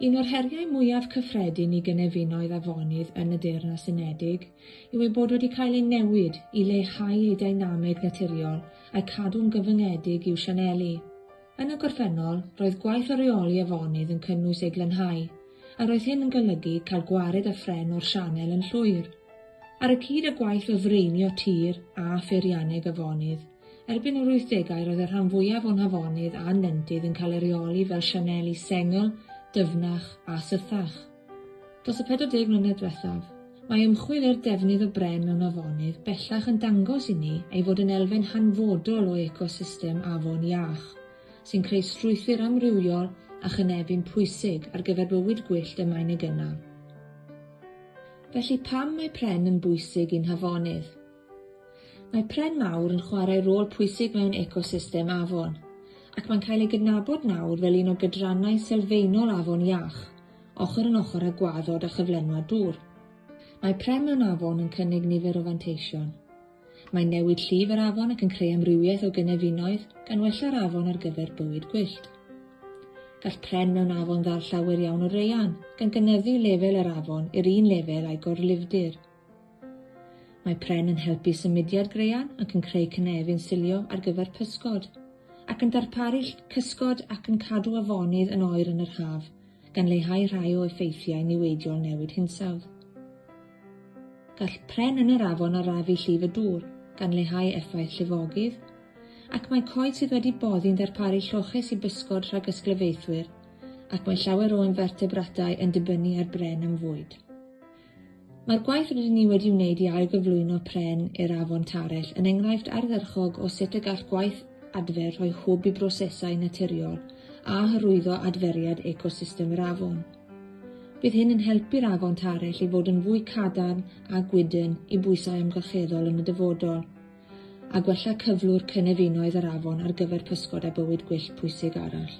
Un o'r heriau mwyaf cyffredin i gynefinoedd afonydd yn y Deyrnas Unedig yw eu bod wedi cael eu newid i leihau eu deinameg naturiol a'u cadw'n gyfyngedig i'w sianeli. Yn y gorffennol, roedd gwaith o reoli afonydd yn cynnwys ei glanhau, a roedd hyn yn golygu cael gwared â phren o'r sianel yn llwyr. Ar y cyd â gwaith o ddraenio tir a pheirianneg afonydd, Erbyn yr wythdegau roedd y rhan fwyaf o'n hafonydd a'n nentydd yn cael eu rheoli fel sianeli sengl, dyfnach a sythach. Dros y 40 mlynedd diwethaf, mae ymchwil i'r defnydd o bren mewn afonydd bellach yn dangos inni ei fod yn elfen hanfodol o ecosystem afon iach, sy'n creu strwythur amrywiol a chynefin pwysig ar gyfer bywyd gwyllt y mae'n ei gynnal. Felly, pam mae pren yn bwysig i'n hafonydd? Mae pren mawr yn chwarae rôl pwysig mewn ecosystem afon, ac mae'n cael ei gydnabod nawr fel un o gydrannau sylfaenol afon iach, ochr yn ochr â gwaddod a chyflenwad dŵr. Mae pren mewn afon yn cynnig nifer o fanteision. Mae'n newid llif yr afon ac yn creu amrywiaeth o gynefinoedd, gan wella'r afon ar gyfer bywyd gwyllt. Gall pren mewn afon ddal llawer iawn o raean, gan gynyddu lefel yr afon i'r un lefel â'i gorlifdir. Mae pren yn helpu symudiad graean ac yn creu cynefin silio ar gyfer pysgod, ac yn darparu ll cysgod ac yn cadw afonydd yn oer yn yr haf, gan leihau rhai o effeithiau niweidiol newid hinsawdd. Gall pren yn yr afon arafu llif y dŵr, gan leihau effaith llifogydd, ac mae coed sydd wedi boddi'n darparu lloches i bysgod rhag ysglyfaethwyr, ac mae llawer o infertebratau yn dibynnu ar bren am fwyd. Mae'r gwaith rydyn ni wedi wneud i ailgyflwyno pren i'r afon Tarell yn enghraifft ardderchog o sut y gall gwaith adfer rhoi hwb i brosesau naturiol a hyrwyddo adferiad ecosystem yr afon. Bydd hyn yn helpu'r afon Tarell i fod yn fwy cadarn a gwydn i bwysau amgylcheddol yn y dyfodol, a gwella cyflwr cynefinoedd yr afon ar gyfer pysgod a bywyd gwyllt pwysig arall.